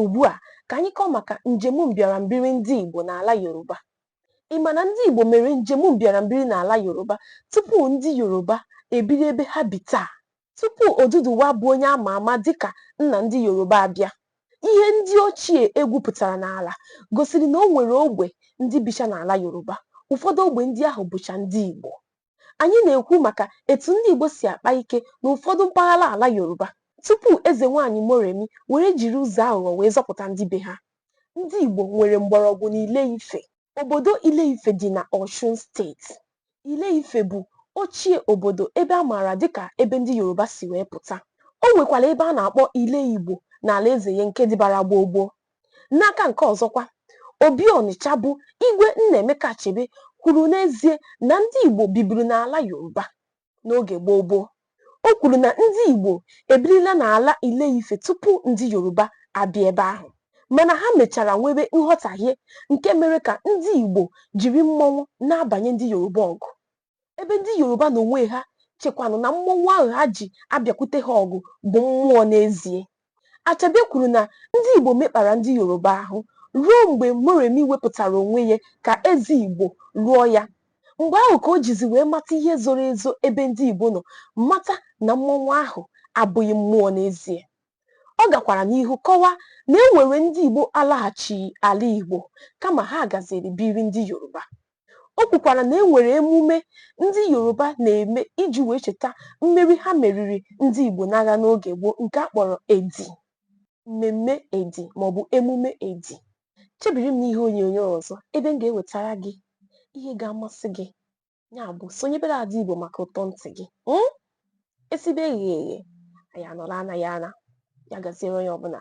Ugbu a, ka anyị kọọ maka njem mbịarambiri ndị Igbo n'ala Yoruba. Ị ma na ndị Igbo mere njem mbịarambiri n'ala Yoruba tupu ndị Yoruba ebiri ebe ha bi taa? Tupu Oduduwa bụ onye a ma ama dịka nna ndị Yoruba abịa, ihe ndị ochie e gwupụtara n'ala gosiri na o nwere ogbe ndị bicha n'ala Yoruba. Ụfọdụ ogbe ndị ahụ bụcha ndị Igbo. anyị na-ekwu maka etu ndị Igbo si akpa ike n'ụfọdụ mpaghara ala Yoruba tupu eze nwaanyị Moremi were jiri ụzọ aghụghọ wee zọpụta ndị be ha. Ndị Igbo nwere mgbọrọgwụ n'Ile Ife. Obodo Ile Ife dị na Ọshun steeti. Ile Ife bụ ochie obodo ebe a maara dịka ebe ndị Yoruba si wee pụta. O nwekwara ebe a na-akpọ Ile Igbo n'alaeze ya nke dịbara gboo gboo. N'aka nke ọzọkwa, Obi Ọnịcha bụ Igwe Nnaemeka Achebe kwuru n'ezie na ndị Igbo biburu n'ala Yoruba n'oge gboo gboo. O kwuru na ndị Igbo ebirila n'ala Ile-Ife tupu ndị Yoruba abịa ebe ahụ, mana ha mechara nwebe nghọtahie nke mere ka ndị Igbo jiri mmọnwụ na-abanye ndị Yoruba ọgụ. ebe ndị Yoruba n'onwe ha chekwanụ na mmọnwụ ahụ ha ji abịakwute ha ọgụ bụ mmụọ n'ezie. Achebe kwuru na ndị Igbo mekpara ndị Yoruba ahụ ruo mgbe Moremi wepụtara onwe ya ka eze Igbo lụọ ya. Mgbe ahụ ka o jizi wee mata ihe zoro ezo ebe ndị Igbo nọ mata na mmọnwụ ahụ abụghị mmụọ n'ezie. Ọ gakwara n'ihu kọwaa na e nwere ndị Igbo alaghachighị ala Igbo kama ha gaziri biri ndị Yoruba. O kwukwara na e nwere emume ndị Yoruba na-eme iji wee cheta mmeri ha meriri ndị Igbo n'agha n'oge gboo nke a kpọrọ Edi, mmemme Edi maọbụ emume Edi. Chebiri m n'ihe onyonyo ọzọ ebe m ga-ewetara gị ihe ga-amasị gị. Ya bụ sonyebere Ada Igbo maka ụtọ ntị gị. Mm? Esibe eghe eghe, anyị anọrọ anaghị ana. Ya gaziere onye ọbụla.